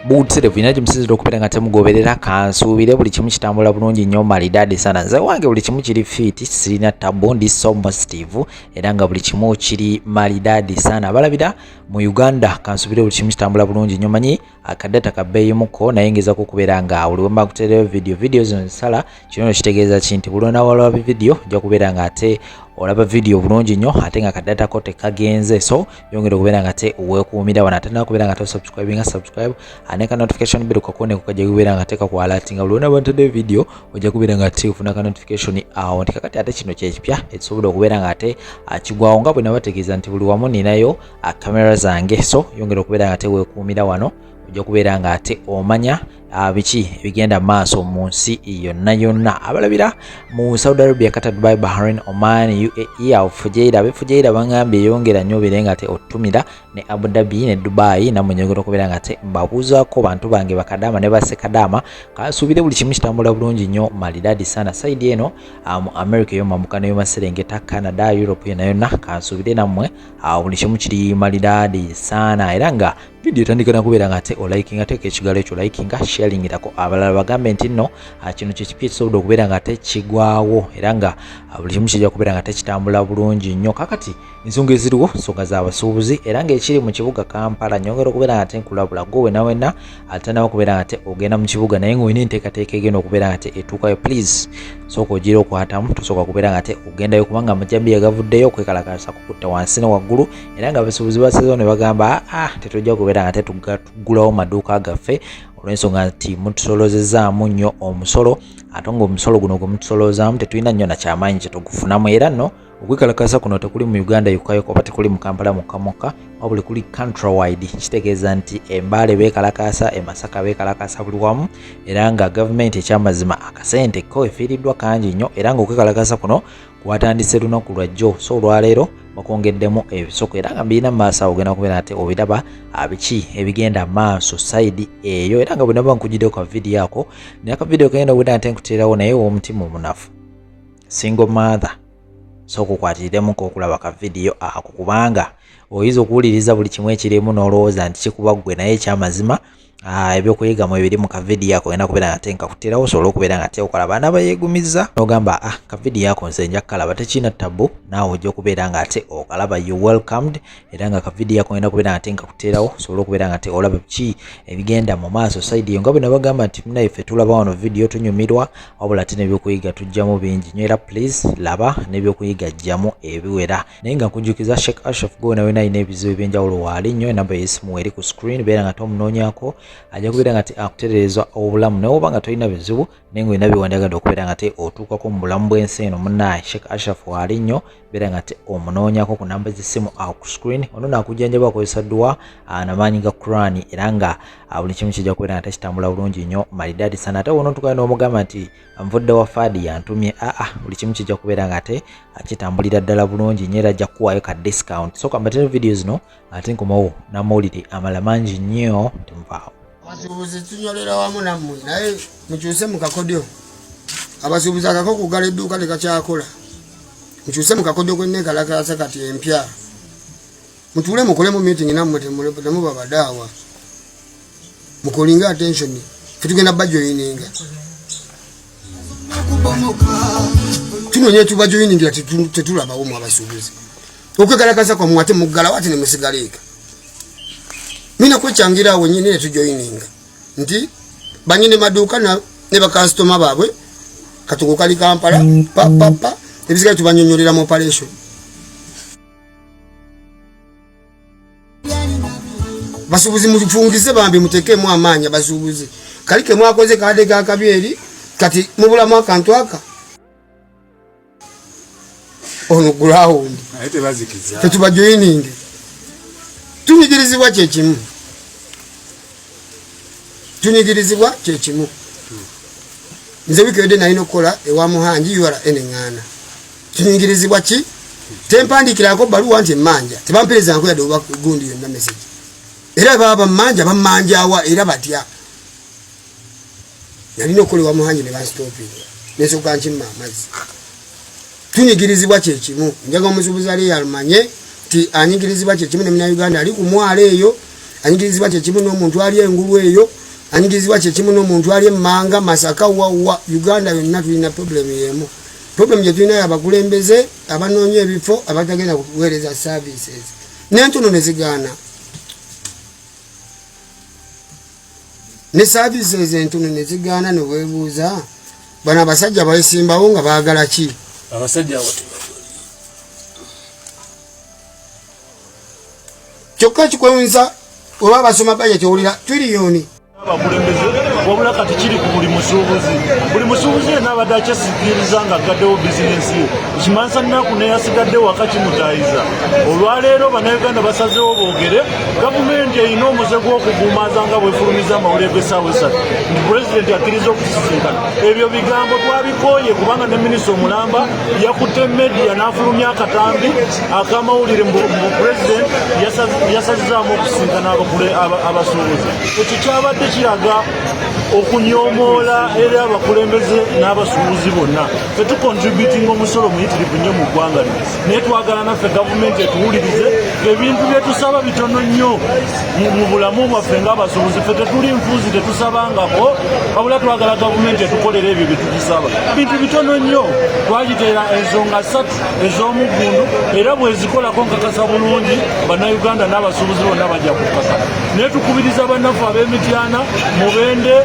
buutsire bulina kimusizira okubeera nga temugoberera kansuubire buli kimu kitambula bulungi nnyo malidaadi sana nze wange buli kimu kiri fiiti sirina tabu ndi so positive era nga buli kimu kiri malidaadi sana abalabira mu uganda kansuubire buli kimu kitambula bulungi nnyo manyi akadata ka bbeeyi muko naye ngeza kukubeera nga buli wemba kutereyo vidiyo vidiyo zino zisala kino no kitegeeza ki nti bulonda walaba bividiyo ojja kubeera nga ate olaba vidiyo bulungi nnyo ate nga kadata ko tekagenze so yongera okubeera nga te wekuumira wano ate nakubeera nga tosubscribe nga subscribe ane ka notification bell kakone kukajja kubeera nga te kakwalati nga buli wonaba ntedeyo vidiyo ojja kubeera nga te ofuna ka notification awo nti kakati ate kino kyekipya ekisobola okubeera nga ate akigwawo nga bwe nabategeeza nti buli wamu ninayo uh, camera zange so yongera okubeera nga tewekuumira wano ojja kubeera nga ate omanya uh, biki ebigenda maaso mu nsi yonna yonna abalabira mu saudi arabia kata dubai bahrain oman uae awo fujeira abefujeira bangambye eyongera nnyo obeere nga te otumira ne abu dhabi ne dubai namwe nyongera okubeera nga te mbabuuzaako bantu bange bakadaama ne basekadaama kasuubire buli kimu kitambula bulungi nnyo malidadi sana saidi eno uh, mu america eyomambuka neyomaserengeta canada europe yona yonna kansuubire nammwe awo buli kimu kiri malidaadi saana era nga vidiyo etandika nakubeera nga ate olikinga teeka ekigalo ekyo olikinga sharingirako abalala bagambe nti nno ah, kino kyekipya ekisobola okubeera nga ate kigwawo era nga ah, buli kimu kijja kubeera nga tekitambula bulungi nnyo kakati ensonga eziriwo nsonga z'abasuubuzi era ngaekiri mu kibuga kampala nyongera okubeera nga ate nkulabula gwe wenawena ate nawe okubeera nga te ogenda mu kibuga naye nga olina enteekateeka egenda okubeera nga te etuukayo please sooka ogira okwatamu tosooka kubeera nga te ogendayo kubanga amajambiya gavuddeyo okwekalakasa kukutta wansi ne waggulu era nga abasuubuzi basezewo ne bagamba aa ah, ah, tetujja kubeera nga te tuggulawo maduuka gaffe olw'ensonga nti mutusolozezaamu nnyo omusolo ate nga omusolo guno gwe mutusolozaamu tetulina nnyo nakyamaanyi kyetugufunamu era nno Okwekalakaasa kuno tekuli mu Uganda yokka yokka oba tekuli mu Kampala mukka mukka wabula kuli country wide kitegeeza nti embaale beekalakaasa emasaka beekalakaasa buli wamu era nga gavumenti ekyamazima akasente ko efiiriddwa kangi nnyo era ng'okwekalakaasa kuno kwatandise lunaku lwajjo so olwaleero bakwongeddemu ebisoko era nga mbirina mu maaso awo ogenda kubeera ate obiraba abiki ah, ebigenda maaso sayidi eyo era nga bwenaba nkugiddeyo ka vidiyo ako naye akavidiyo kagenda okubeera nte nkuteerawo naye owomutima omunafu single mother so kukwatiriremu kokulaba ka vidiyo ako kubanga oyinza okuwuliriza buli kimu ekirimu n'olowooza nti kikuba ggwe naye ekyamazima ah, ebyokuyiga mu ebiri mu kavidiyo ako olina kubeera nate nkakutirawo osobola okubeera nga teokola baana bayegumiza n'ogamba ah kavidiyo ako nze nja kukalaba tekirina tabbu naawe ojja okubeera nga ate okalaba you welcomed era nga kavidiyo akugenda kubeera nga tenga kuteerawo osobola okubeera nga olaba ki ebigenda mu maaso saidi eyo nga bwe nabagamba nti munaye ffe tulaba wano vidiyo tunyumirwa wabula ate n'ebyokuyiga tujjamu bingi nyo era please laba n'ebyokuyiga jjamu ebiwera naye nga nkujukiza shek ashraf gwe wena wena alina ebizibu ebyenjawulo waali nyo enamba yesimu eri ku screen beera nga tomunoonyako ajja kubeera nga te akutereeza obulamu naye oba nga tolina bizibu naye nga olina byewandagadde okubeera nga te otuukako mu bulamu bw'ensi eno munaye shek ashraf waali nyo beera nga ti omunoonyako ku namba z'essimu awo ku screen ono naakujjanjaba akozesa dduwa namaanyi ga quran era nga buli kimu kijja kubeera nga takitambula bulungi nnyo malidaadi sana ate wona otukayo n'omugamba nti nvudde wa faadi yantumye aa buli kimu kijja kubeera nga ate kitambulira ddala bulungi nyo era ajja kukuwaayo ka discount soka mbatera vidiyo zino ate nkomawo n'amawulire amala mangi nnyo temuvaawo abasuubuzi tunyolera wamu nammwe naye mukyuse mu kakodyo abasuubuzi akako kugala edduuka tekakyakola mukyuse mu kakodyo kwenneekalakaasa kati empya mutuule mukolemu meeting nammwe temuba badaawa mukolinga attention fetugenda bajoyininga tunonye tuba joiningira tetulabawo mu abasuubuzi okwekalakasa kwamwe ate muggalawo ate nemusigaleeka mina kwekyangira awo nyini netujoininga nti banyini maduuka ne bakasitoma baabwe katuko kali kampala papapa ebisigale tubanyonyolera mu operation basubuzi mufungize bambi mutekemu amaanya basubuzi kali kemwakoze kade gakabi eri kati mubulamu akantu aka ono gulawundi tetubajoyininge tunyigirizibwa kyekimu tunyigirizibwa kyekimu nze wikewedde nalina okukola ewa muhangi ura eneŋŋaana tunyigirizibwa ki tempandiikirako baluwa nti emmanja tebamperezanko yadde oba gundi yonna mesegi era baba bammanja bammanjawa era batya nalina okukola ewa muhangi ne bansitopi nensoka nkimma amazzi tunyigirizibwa kyekimu njaga omusubuzi ali yalumanye nti anyigirizibwa kyekimu nemina uganda ali ku mwalo eyo anyigirizibwa kyekimu n'omuntu ali engulu eyo anyigirizibwa kyekimu n'omuntu ali emmanga masaka wawa uganda yonna tulina problemu yemu problemu gyetulina yabakulembeze abanoonya ebifo abatagenda kuweereza services nentono nezigaana ne saavisi ezo entono ne zigaana ne weebuuza bano abasajja baesimbawo nga baagala ki abasajja kyokka kikwewunza oba basoma bajja kyowulira tiriyoni abakulembeze wabula kati kiri ku buli musuubuzi buli musuubuzi yena abadde akyesigiriza nga aggaddewo bizinensi ye ekimanyisa nnaku neyasigadde waka kimutayiza olwaleero bannayuganda basazewo boogere gavumenti erina omuze gw'okugumaza nga bwefulumiza amawulire g'essaawa essatu nti pulezidenti akkiriza okusisinkana ebyo bigambo twabikooye kubanga ne minisita omulamba yakutte media n'afulumya akatambi akamawulire mu pulezidenti yasazizaamu okusisinkana abasuubuzi ekyo kyabadde kiraga okunyomoola eri abakulembeze n'abasuubuzi bonna ffe tukontributinga omusolo muyitirivu nnyo mu ggwanga lino naye twagala naffe gavumenti etuwulirize ebintu byetusaba bitono nnyo mu bulamu bwaffe ng'abasuubuzi ffe tetuli nfuuzi tetusabangako wabula twagala gavumenti etukolera ebyo byetugisaba bintu bitono nnyo twagiteera ensonga satu ez'omuggundu era bwezikolako nkakasa bulungi bannayuganda n'abasuubuzi bonna bajja kukaka naye tukubiriza bannaffe ab'emityana mubende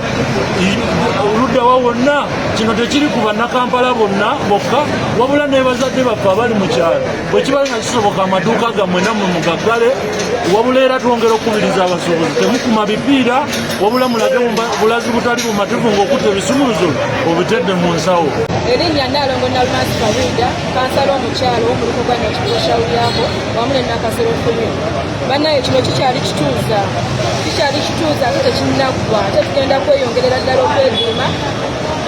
luddawa wonna kino tekiri ku bannakampala bonna bokka wabula nebazadde baffe abali mu kyalo bwe kiba nga kisoboka amaduuka gammwe nammwe mugaggale wabula era twongera okukubiriza abasuubuzi temukuma bipiira wabula mulage bulazi butali bumativu ng'okutta ebisumuluzo obitedde mu nsawo erinnya naalongo nalumasi kabuida kansala omukyalo womuluko gwa nakibulo shawulyako wamu ne nakasero fumi banaye kino kikyali kituuza kikyali kituuza ate tekinaggwa ate tugenda kweyongerera ddala okwediima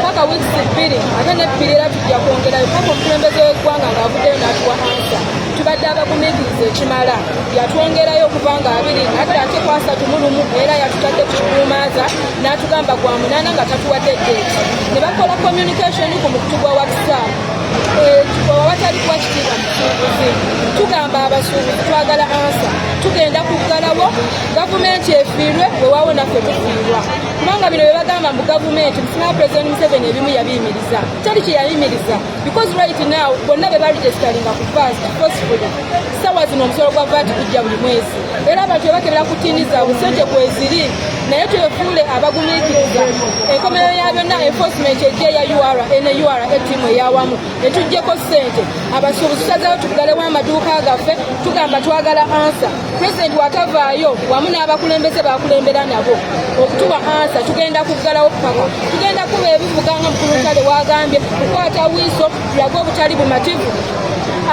paka weeks bbiri ate nebbiri era tujja kwongerayo paka omukulembeze w'eggwanga ng'avuddeyo n'atuwa ansa tubadde abagumiikiriza ekimala yatwongerayo okuva nga abiri nadda ate kwasatu mu lumu era yatutadde ku kikuumaaza n'atugamba gwa munaana nga tatuwadde ddeeti ne bakola communication ku mukutu gwa whatsapp eh, awatali kuba kitiibwa musuubuzi tugamba abasuubuzi twagala ansa tugenda kuggalawo gavumenti efiirwe wewawo naffe tufiirwa kubanga bino bye bagamba mbu gavumenti musinga president museveni ebimu yabiyimiriza teri kye yayimiriza because right now bonna be baregisteringa ku vas forcefully sawa zino omusolo gwa vat gujja buli mwezi era abantu bebakebera ku tiini zaabwe so gye kweziri naye twefuule abagumiikiriza enkomerero ya byonna enforcement ejja eya ura ene ura etiimu eyawamu netujjeko ssente abasuubuzi tusazeewo tugalewo amaduuka gaffe tugamba twagala ansa pulezidenti watavaayo wamu n'abakulembeze bakulembera nabo okutuwa ansa tugenda kuggalawo paka tugenda kuba ebivuga nga mukulu ntale wagambye kukwata wiiso tulaga obutali bumativu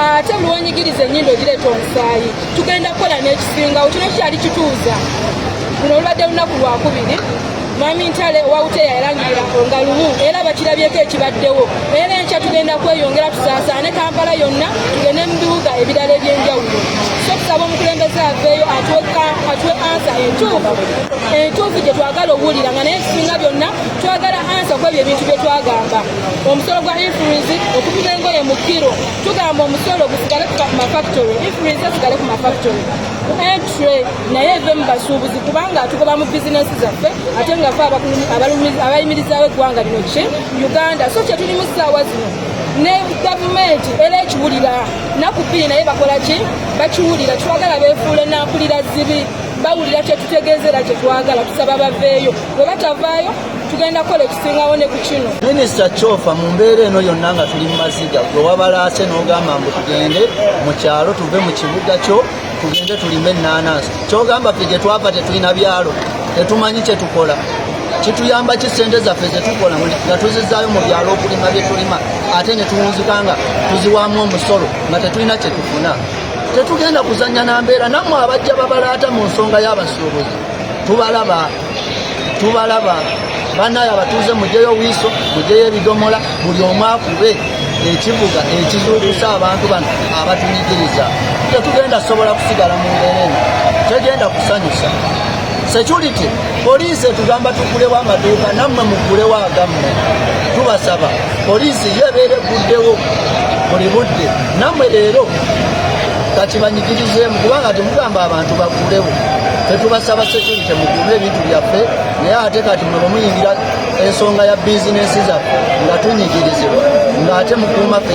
ate buli wonyigiriza enyindo ogireeta omusaayi tugenda kukola n'ekisingawo kino kyali kituuza luno olubadde lunaku lwakubiri Mwami Ntale Wawuteya yalangirira nga lumu era bakirabyeko ekibaddewo era enkya tugenda kweyongera tusaasaane Kampala yonna tugende mu bibuga ebirala eby'enjawulo so tusaba omukulembeze aveeyo atuwe ansa entuufu entuufu gye twagala okuwulira nga naye ekisinga byonna twagala ansa kwebyo ebintu bye twagamba omusolo gwa influensi okupima engoye mu kiro tugamba omusolo gusigale ku mafactory influensi esigale ku mafactory Entry naye eve mu basuubuzi kubanga atugoba mu bizinensi zaffe ate nga fe abayimirizaawo eggwanga lino ki Uganda so kye tulimu ssaawa zino ne gavumenti era ekiwulira naku bbiri naye bakola ki bakiwulira twagala beefuule nampulira zibi bawulira kyetutegeeza era kyetwagala tusaba baveeyo bwe batavaayo tugenda kukola ekisingawo ne ku kino minisita kyofa mu mbeera eno yonna nga tuli mu maziga gwe wabalaase n'ogamba mbu tugende mu kyalo tuve mu kibuga kyo tugende tulime ennaanansi kyogamba ffe gye twava tetulina byalo tetumanyi kye tukola kituyamba ki sente zaffe zetukola nga tuzizaayo mu byalo okulima bye tulima ate ne tuwunzika nga tuziwaamu omusolo nga tetulina kye tufuna tetugenda kuzannya na mbeera nammwe abajja babalaata mu nsonga y'abasuubuzi tubalaba tubalaba banaye abatuuze mujeyo wiiso mujeyo ebidomola buli omu akube ekivuga ekizuukusa abantu bano abatunyigiriza tetugenda sobola kusigala mu mbeera eno tegenda kusanyusa security poliisi etugamba tugulewo amaduuka nammwe mugulewo agammwe tubasaba poliisi yo ebeera eguddewo buli budde nammwe leero kakibanyigirizeemu kubanga temugamba abantu bagulewo tetubasaba security mukume ebintu byaffe naye ate kati mwe bwemuyingira ensonga ya bizinensi zaffe nga tunyigirizibwa ng'ate mukuuma ffe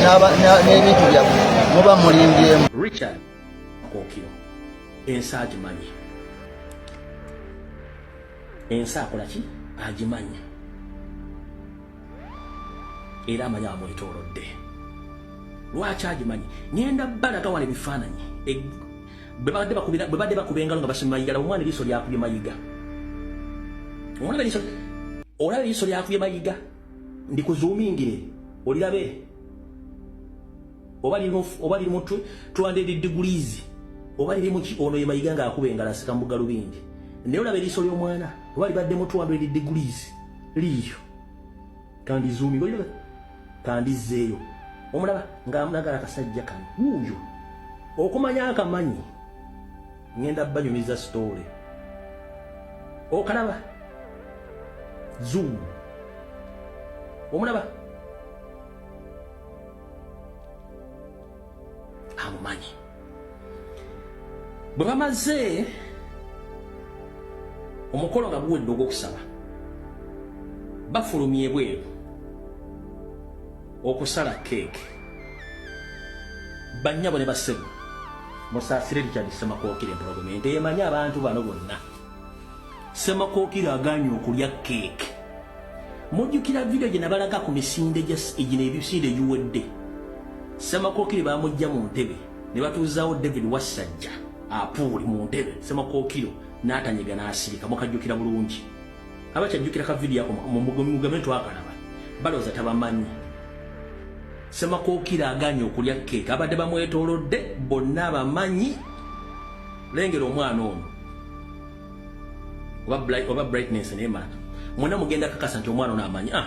n'ebintu byaffe muba mulimbyemu richard okiro ensi agimanyi ensi akola ki agimanyi era amanyi amwetoolodde lwaki agimanyi ngenda balaga wala ebifaananyi Bwe babadde bakubira bwe babadde bakuba engalo nga basima Mayiga laba omwana eriiso lyakubye Mayiga. Omwana eriiso olaba eriiso lyakubye Mayiga ndi kuzuumingire olirabe oba liri oba liri mutwe 200 degrees oba liri muki ono ye Mayiga nga akuba engalo asika mu galubindi naye olaba eriiso ly'omwana oba libadde mu 200 degrees liiyo. kandizuumibwa yo kandizzeeyo omulaba ng'amunagala akasajja kano wuuyo okumanya akamanyi ngenda banyumiza sitoole okalaba zuumu omulaba amumanyi bwe bamaze omukolo nga guwedde ogw'okusaba bafulumya ebweru okusala keeke bannyabo ne bassebo musaasire richard ssemakokire empologoma ente emanyi abantu bano bonna Ssemakokiro agaanye okulya keeke. Mujjukira vidiyo gye nabalaga ku misinde gino ebisinde egiwedde? Ssemakokiro baamujja mu ntebe ne batuuzaawo David Wassajja apuuli mu ntebe Ssemakokiro n'atanyega n'asirika. Mukajjukira bulungi. Abakyajjukira ka vidiyo ako mugambe nti twakalaba. Balowooza tabamanyi. Ssemakokiro agaanye okulya keeke. Abadde bamwetoolodde bonna abamanyi. Lengera omwana ono. oba bright oba brightness ne mara mwana mugenda kakasa nti omwana ono amanyi ah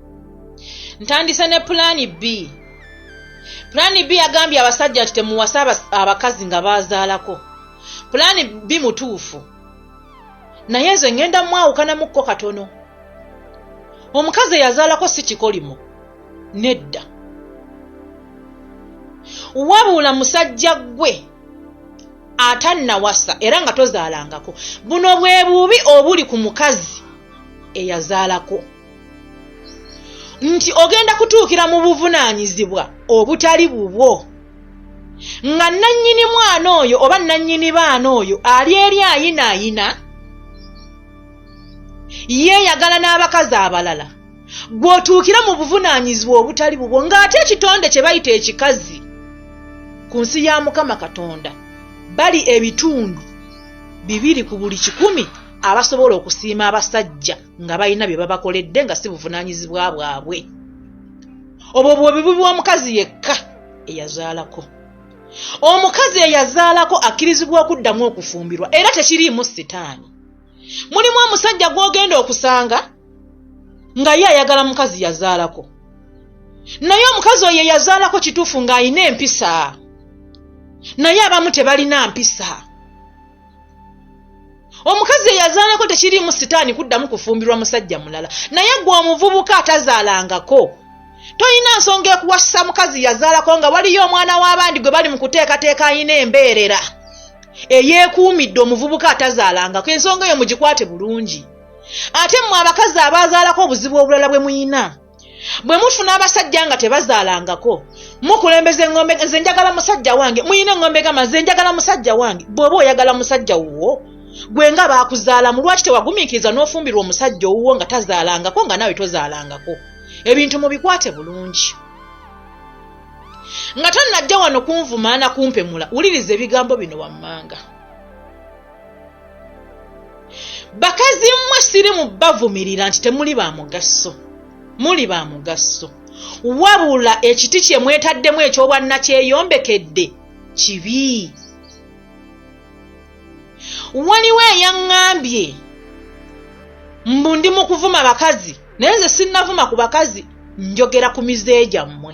ntandise ne pulaani b pulaani b yagambye abasajja nti temuwasa abakazi nga baazaalako pulaani b mutuufu naye ezo ŋŋenda mwawukanamukko katono omukazi eyazaalako si kikolimo nedda wabuula musajja ggwe atannawasa era nga tozaalangako buno bwe bubi obuli ku mukazi eyazaalako nti ogenda kutuukira mu buvunaanyizibwa obutali bubwo nga nannyini mwana oyo oba nannyini baana oyo ali eri ayinaayina yeeyagala n'abakazi abalala gw'otuukira mu buvunaanyizibwa obutali bubwo ng'ate ekitonde kye bayita ekikazi ku nsi ya mukama katonda bali ebitundu bibiri ku buli kikumi abasobola okusiima abasajja nga balina bye babakoledde nga si buvunaanyizibwa bwabwe obwo bwobi bubi wa mukazi yekka eyazaalako omukazi eyazaalako akkirizibwa okuddamu okufumbirwa era tekiriimu sitaani mulimu omusajja gw'ogenda okusanga nga ye ayagala mukazi yazaalako naye omukazi oyo eyazaalako kituufu ng'alina empisa naye abamu tebalina mpisa omukazi eyazaalako tekiriimu sitaani kuddamu kufumbirwa musajja mulala naye gwe omuvubuka atazaalangako tolina nsonga ekuwasisa mukazi yazaalako nga waliyo omwana w'abandi gwe bali mu kuteekateeka alina embeerera eyeekuumidde omuvubuka atazaalangako ensonga eyo mugikwate bulungi ate mmwe abakazi abaazaalako obuzibu obulala bwe muyina bwe mufuna abasajja nga tebazaalangako mukulembeza eŋŋombe nze njagala musajja wange muyina eŋŋombe gamba nze njagala musajja wange bw'oba oyagala musajja wuwo gwe nga baakuzaalamu lwaki tewagumiikiriza n'ofumbirwa omusajja owuwo nga tazaalangako nga naawe tozaalangako ebintu mubikwate bulungi nga tonnajja wano kunvumaana kumpemula wuliriza ebigambo bino wammanga bakazi mmwe siri mu bavumirira nti temuli ba mugaso muli ba mugaso wabula ekiti kye mwetaddemu ekyobwannakyeyombekedde kibi waliwo eyaŋŋambye mbu ndi mu kuvuma bakazi naye nze sinnavuma ku bakazi njogera ku mize gyammwe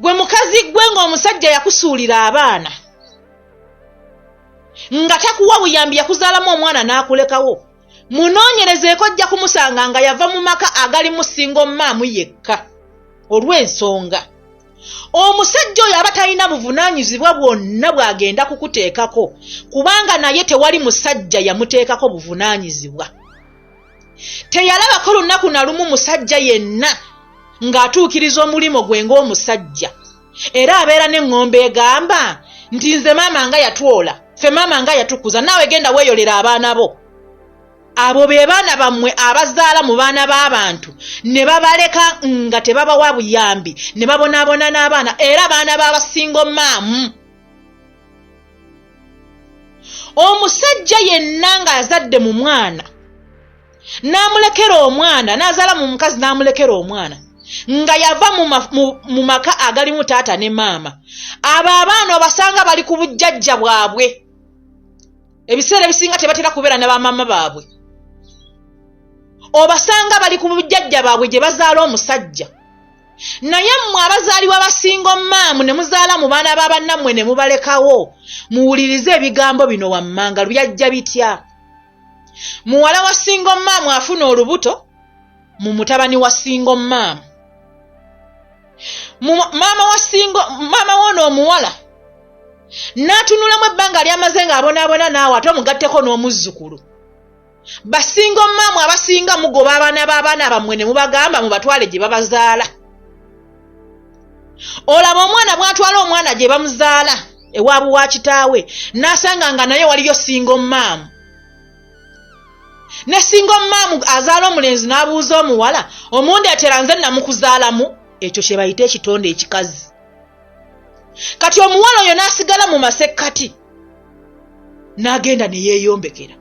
gwe mukazi gwe ng'omusajja yakusuulira abaana nga takuwa buyambi yakuzaalamu omwana n'akulekawo munoonyerezeeko ojja kumusanga nga yava mu maka agali musinga omumaamu yekka olw'ensonga omusajja oyo aba talina buvunaanyizibwa bwonna bw'agenda kukuteekako kubanga naye tewali musajja yamuteekako buvunaanyizibwa teyalabako lunaku na lumu musajja yenna ng'atuukiriza omulimu gwe ng'omusajja era abeera n'eŋŋombe egamba nti nze maama nga yatwola ffe maama nga yatukuza naawe genda weeyolera abaana bo abo be baana bammwe abazaala mu baana b'abantu ne babaleka nga tebabawa buyambi ne babonaabona n'abaana era baana b'abasingo maamu omusajja yenna ng'azadde mu mwana n'amulekera omwana n'azaala mu mukazi n'amulekera omwana nga yava mu maka agalimu taata ne maama abo abaana obasanga bali ku bujjajja bwabwe ebiseera ebisinga tebatera kubeera ne bamaama baabwe obasanga bali ku bujjajja baabwe gye bazaala omusajja Naye mmwe abazaalibwa ba singo maamu ne muzaala mu baana ba bannammwe ne mubalekawo, muwulirize ebigambo bino wammanga. Byajja bitya? Muwala wa singo maamu afuna olubuto mu mutabani wa singo maamu. Maama wa singo maama woono omuwala n'atunulamu ebbanga ly'amaze ng'abonaabona naawe ate omugatteko n'omuzzukulu. basinga omumaamu abasinga mugoba abaana b'abaana bammwe ne mubagamba mubatwale gye babazaala olaba omwana bw'atwala omwana gye bamuzaala ewaabu wa kitaawe n'asanga nga naye waliyo singa omumaamu ne singa omumaamu azaala omulenzi n'abuuza omuwala omundeetera nze namukuzaalamu ekyo kye bayita ekitonde ekikazi kati omuwala oyo n'asigala mu masekkati n'agenda ne yeeyombekera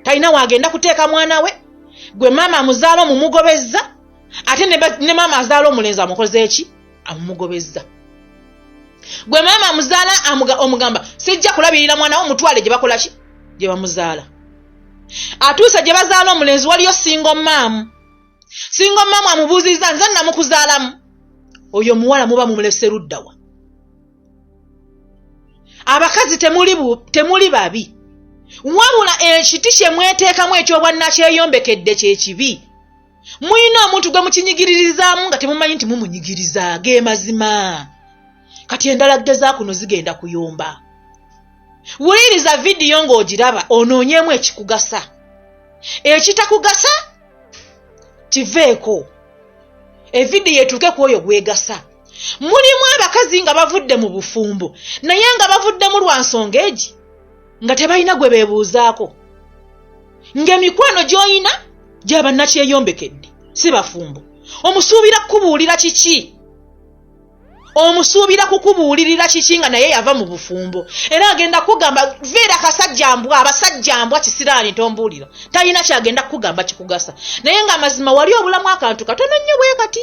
talina waagenda kuteeka mwana we gwe maama amuzaala omumugobezza ate ne maama azaala omulenzi amukoze eki amumugobezza gwe maama amuzaala omugamba sijja kulabirira mwana wo mutwale gye bakola ki gye bamuzaala atuuse gye bazaala omulenzi waliyo singa omaamu singa omaamu amubuuzizza nze namukuzaalamu oyo omuwala muba mumulese luddawa abakazi temuli temuli babi wabula ekiti kye mweteekamu ekyobwannakyeyombekedde kye kibi mulina omuntu gwe mukinyigiririzaamu nga temumanyi nti mumunyigiriza ge mazima kati endala ggeza kuno zigenda kuyomba wuliriza vidiyo ng'ogiraba onoonyeemu ekikugasa ekitakugasa kiveeko evidiyo etuuke ku oyo gwegasa mulimu abakazi nga bavudde mu bufumbo naye nga bavuddemu lwa nsonga egi nga tebalina gwe beebuuzaako ng'emikwano gy'olina gyabannakyeyombekede si bafumbo omusuubira kukubuulira kiki omusuubira kukubuulirira kiki nga naye yava mu bufumbo era agenda kukugamba veera kasajja mbwa abasajja mbwa kisiraani tombuulira talina kyagenda kukugamba kikugasa naye ng'amazima wali obulamu akantu katono nnyo bwe kati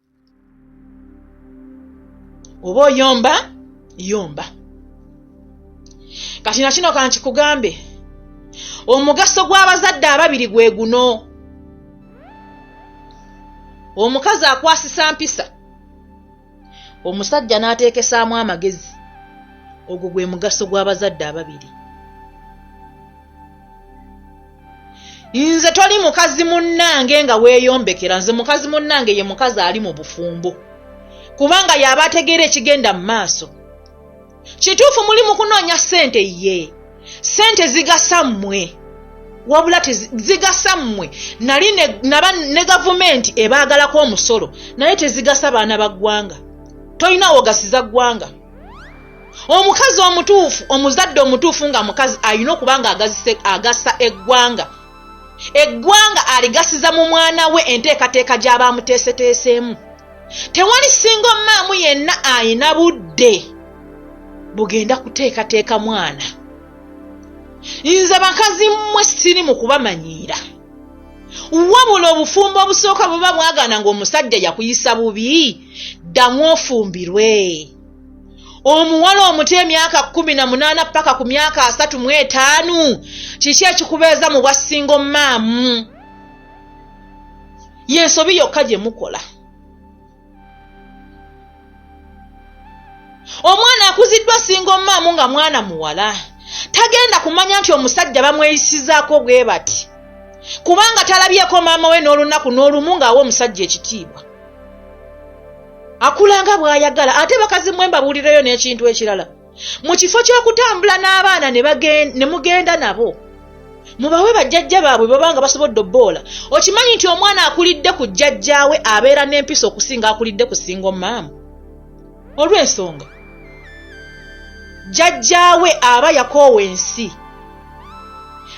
oba oyomba yomba kati nakino kankikugambe omugaso gw'abazadde ababiri gwe guno omukazi akwasisa mpisa omusajja n'ateekesaamu amagezi ogwo gwe mugaso gw'abazadde ababiri nze toli mukazi munnange nga weeyombekera nze mukazi munnange ye mukazi ali mu bufumbo kubanga y'aba ategeera ekigenda mu maaso kituufu muli mu kunoonya ssente ye ssente zigasa mmwe wabula tezigasa mmwe nali naba ne gavumenti ebaagalako omusolo naye tezigasa baana ba ggwanga tolina wogasiza ggwanga omukazi omutuufu omuzadde omutuufu nga mukazi alina okuba nga agasa eggwanga eggwanga aligasiza mu mwana we enteekateeka gy'aba amuteeseteeseemu tewali singa omumaamu yenna alina budde bugenda kuteekateeka mwana nze bakazi mmwe siri mu kubamanyiira wabula obufumbo obusooka buba bwagana ng'omusajja yakuyisa bubi ddamu ofumbirwe omuwala omuto emyaka kumi na munaana paka ku myaka asatu mu etaanu kiki ekikubeeza mu bwa singo maamu yensobi yokka gye mukola omwana akuziddwa singo maamu nga mwana muwala tagenda kumanya nti omusajja bamweyisizaako bwe bati kubanga talabyeko maama we n'olunaku n'olumu ng'awa omusajja ekitiibwa akula nga bw'ayagala ate bakazi mwe mbabuulireyo n'ekintu ekirala mu kifo ky'okutambula n'abaana ne mugenda nabo mubawe bajjajja baabwe baba nga basobodde obboola okimanyi nti omwana akulidde ku jjajjaawe abeera n'empisa okusinga akulidde ku singa omaamu olw'ensonga jjajjaawe aba yakoowa ensi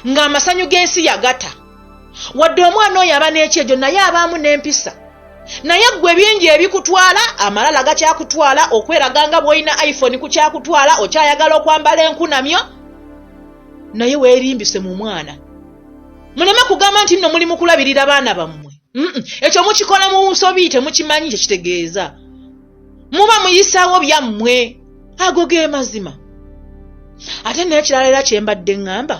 ng'amasanyu g'ensi yagata wadde omwana oyo aba n'ekyejo naye abaamu n'empisa naye ggwe bingi ebikutwala amalala gakyakutwala okweraga nga bw'olina iphone ku kyakutwala okyayagala okwambala enkunamyo naye weerimbise mu mwana muleme kugamba nti nno muli mu kulabirira baana bammwe ekyo mukikola mu nsobi temukimanyi kye kitegeeza muba muyisaawo byammwe ago ge mazima ate n'ekirala era kye mbadde ŋŋamba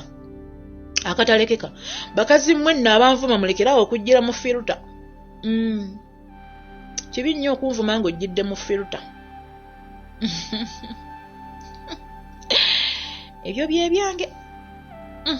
akatalekeka bakazi mmwe nno abanvuma mulekerawo okujjira mu firuta mm. kibi nnyo okunvuma ng'ojjidde mu firuta ebyo bye byange mm.